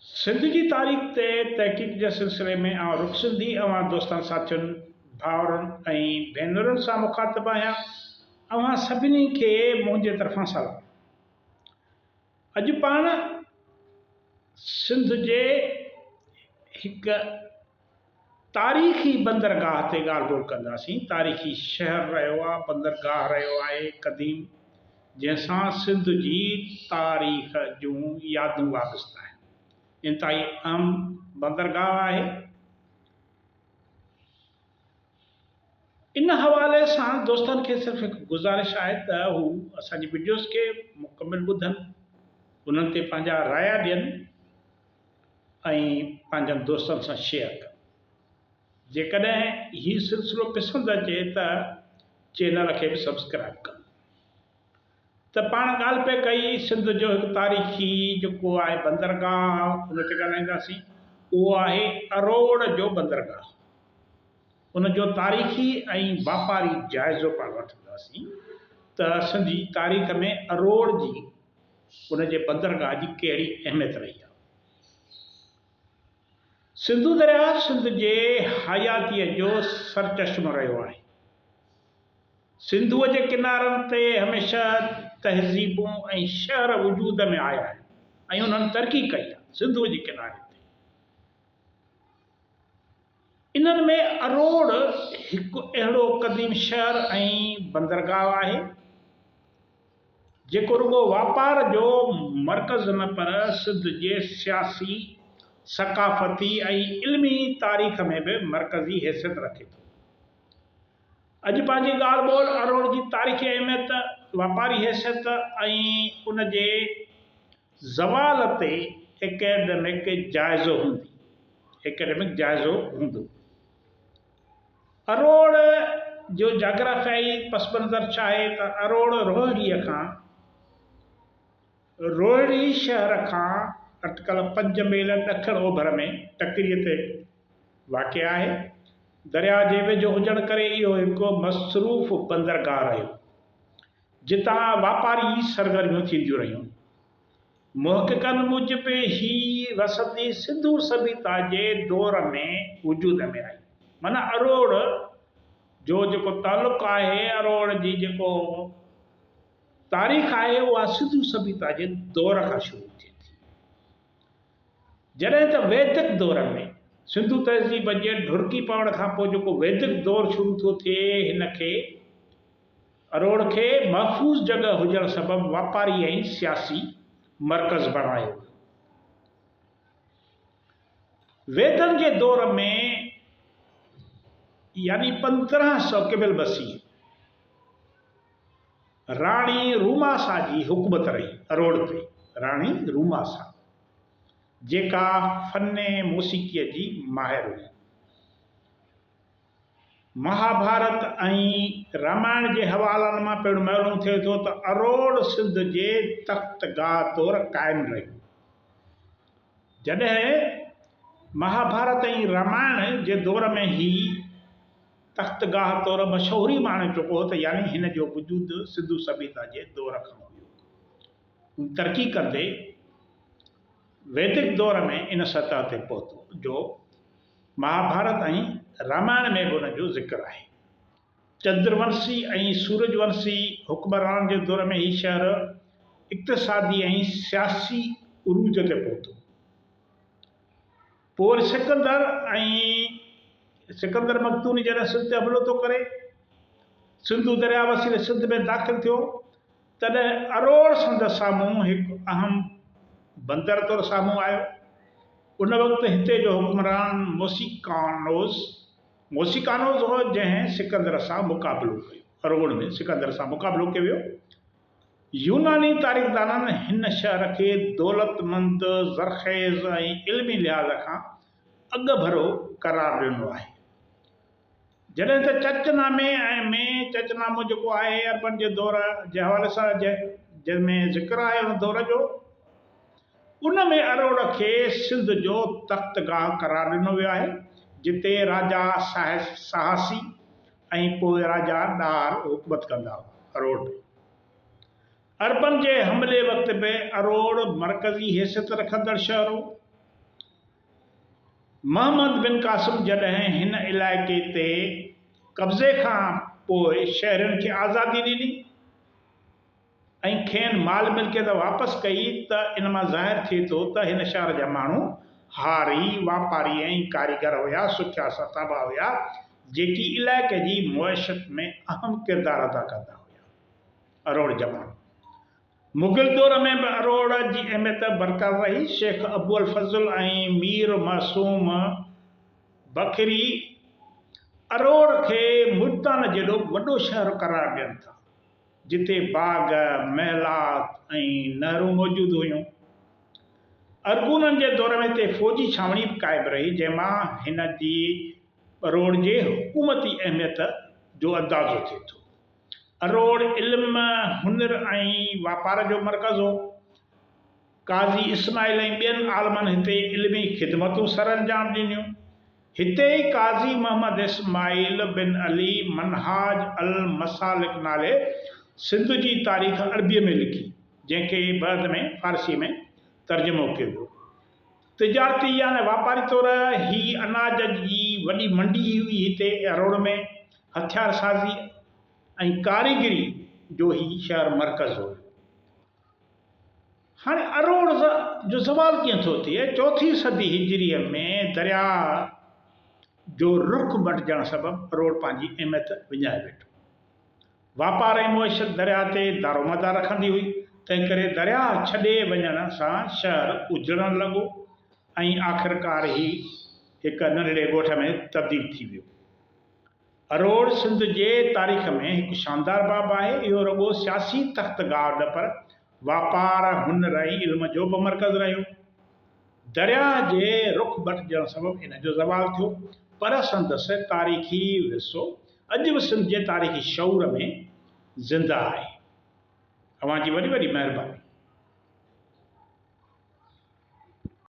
سنڌ جي تاريخ تي تحقيق جي سلسلي ۾ آئون رڳ سنڌي اوهان دوستن ساٿين، ڀائرن ۽ ڀينرن سان مخاطب آهيان. اوهان سڀني کي منهنجي طرفان سلام. اڄ پاڻ سنڌ جي هڪ. تاريخي بندرگاهه تي ڳالهه ٻولهه ڪنداسين. تاريخي شهر رهيو آهي، بندرگاهه رهيو آهي قديم جنهن سان سنڌ جي تاريخ جون يادون وابسته آهن. انتهائي اهم بندرگاهه آهي. ان حوالي سان دوستن کي صرف هڪ گذارش آهي ته هو اسان جي وڊيوز کي مڪمل ٻڌن، انهن تي پنهنجا رايا ڏين. ۽ پنهنجن دوستن سان شيئر ڪن. جيڪڏهن هي سلسلو پسند اچي ته چينل کي به سبسڪرائيب ڪن. ته پاڻ ڳالهه پئي ڪئي سنڌ جو هڪ تاريخي جيڪو آهي بندرگاهه ان تي ڳالهائينداسين اهو آهي اروڙ جو بندرگاهه ان جو تاريخي ۽ واپاري جائزو پاڻ وٺنداسين ته سنڌ جي تاريخ ۾ اروڙ جي ان جي بندرگاهه جي ڪهڙي اهميت رهي آهي؟ سنڌو درياهه سنڌ جي حياتيء جو سرچشمو رهيو آهي. سنڌوء جي ڪنارن تي هميشه تهذيبون ۽ شهر وجود ۾ آيا آهن ۽ انهن ترقي ڪئي آهي. سنڌوء جي ڪناري تي انهن ۾ اروڙ هڪ اهڙو قديم شهر ۽ بندرگاهه آهي، جيڪو رڳو واپار جو مرڪز نه پر سنڌ جي سياسي، ثقافتي ۽ علمي تاريخ ۾ به مرڪزي حيثيت رکي ٿو. اڄ پنهنجي ڳالهه ٻولهه اروڙ جي تاريخي اهميت، واپاري حيثيت ۽ ان جي زوال تي ايڪيڊمڪ جائزو هوندي Academic جائزو هوندو. اروڙ جو جاگرافيائي پس منظر ڇا آهي ته اروڙ روهڙي کان روهڙي شهر کان اٽڪل پنج ميل ڏکڻ اوڀر ۾ ٽڪريء تي واقع آهي. درياء جي ويجهو هجڻ ڪري اهو هڪ مصروف بندرگاهه رهيو. جتان واپاري سرگرميون ٿينديون رهيون. محققن موجب هي وسندي سنڌو سڀيتا جي دور ۾ وجود ۾ آئي. معنيٰ اروڙ جو جيڪو تعلق آهي، اروڙ جي جيڪو تاريخ آهي اها سنڌو سڀيتا جي دور کان شروع ٿئي ٿي. جڏهن ته ويدڪ دور ۾، سنڌو تهذيب جي ڍرڪي پوڻ کانپوء جيڪو ويدڪ دور شروع ٿو ٿئي هن کي، اروڙ کي محفوظ جڳهه هجڻ سبب واپاري ۽ سياسي مرڪز بڻايو ويو. ويدن جي دور ۾ يعني پندرهن سؤ قبل بسي راڻي روماسا جي حڪومت رهي اروڙ تي. راڻي روماسا جيڪا فن موسيقيء جي ماهر هئي. مهاڀارت ۽ رامائڻ جي حوالن مان پڻ معلوم ٿئي ٿو ته اروڙ سنڌ جي تخت گاهه طور قائم رهي. جڏهن مهاڀارت ۽ رامائڻ جي دور ۾ هي تخت گاهه طور مشهوري ماڻي چڪو هو ته يعني هن جو وجود سنڌو سڀيتا جي دور کان هيو. هو ترقي ڪندي ويدڪ دور ۾ ان سطح تي پهتو جو، مهاڀارت ۽ رامائڻ ۾ به ان جو ذڪر آهي. چندرونسي ۽ سورجونسي حڪمرانن جي دور ۾ هي شهر اقتصادي ۽ سياسي عروج تي پهتو. پوء وري سڪندر ۽ سڪندر مقدوني جڏهن سنڌ تي حملو ٿو ڪري، سنڌو درياء وسيلي سنڌ ۾ داخل ٿيو، تڏهن اروڙ سنڌ سامهون هڪ اهم بندر طور سامهون آيو. ان وقت هتي جو حڪمران موسيقانوس Mosicanos هو جنهن سڪندر سان مقابلو ڪيو. اروڙ ۾ سڪندر سان مقابلو ڪيو ويو. يوناني تاريخدانن هن شهر کي دولتمند، زرخيز ۽ علمي لحاظ کان اڳڀرو قرار ڏنو آهي. جڏهن ته چچ نامي ۽ مين چچ نامو جيڪو آهي عربن جي دور جي حوالي سان جنهن ۾ ذڪر آهي ان دور جو ان ۾ اروڙ کي سنڌ جو تخت گاهه قرار ڏنو ويو آهي جتي راجا سهاسي ۽ پوء راجا ڏاهر حڪومت ڪندا هئا اروڙ به عربن جي حملي وقت به اروڙ مرڪزي حيثيت رکندڙ شهر هو. محمد بن قاسم جڏهن هن علائقي تي قبضي کان پوء شهرين کي آزادي ڏني ۽ کين مال ملڪيت واپس ڪئي ته ان مان ظاهر ٿئي ٿو ته هن شهر جا ماڻهو هاري، واپاري ۽ ڪاريگر هيا، سکيا ساتابا هيا، جيڪي علائقي جي معيشت ۾ اهم ڪردار ادا ڪندا هيا. اروڙ جماڻو مغل دور ۾ به اروڙ جي اهميت برقرار رهي. شيخ ابوالفضل ۽ مير معصوم بکري اروڙ کي ملتان جيڏو وڏو شهر قرار ڏين ٿا، جتي باغ، محلات ۽ نهرون موجود هيون. ارغونن جي دور ۾ هتي فوجي ڇانوڻي به قائم رهي، جنهن مان هن جي اروڙ جي حڪومتي اهميت جو اندازو ٿئي ٿو. اروڙ علم، هنر ۽ واپار جو مرڪز هو. قاضي اسماعيل ۽ ٻين عالمن هتي علمي خدمتون سرانجام ڏنيون. هتي ئي قاضي محمد اسماعيل بن علي منهاج المسالڪ نالي سنڌ جي تاريخ عربيء ۾ لکي، جنهن کي بعد ۾ فارسيء ۾ ترجمو ڪيو ويو. تجارتي يعني واپاري طور هي اناج جي وڏي منڊي هئي هتي اروڙ ۾ هٿيار سازي ۽ ڪاريگري جو هي شهر مرڪز هو. هاڻي اروڙ جو زوال ڪيئن ٿو ٿئي؟ چوٿين صدي هجري ۾ درياء جو رخ مٽجڻ سبب اروڙ پنهنجي اهميت وڃائي ويٺو. واپار ۽ معيشت درياهه تي دارومدار رکندي هئي، تنهنڪري درياهه ڇڏي وڃڻ سان شهر اجڙڻ لڳو ۽ آخرڪار هي هڪ ننڍڙي ڳوٺ ۾ تبديل ٿي ويو. اروڙ سنڌ جي تاريخ ۾ هڪ شاندار باب آهي. اهو رڳو سياسي تخت گاهه نه پر واپار، هنر ۽ علم جو به مرڪز رهيو. درياهه جي رخ بٽجڻ سبب ان جو زوال ٿيو، پر سندس تاريخي ورثو اڄ به سنڌ جي تاريخي شعور ۾ زنده آهي. اوهان جي وڏي وڏي مهرباني.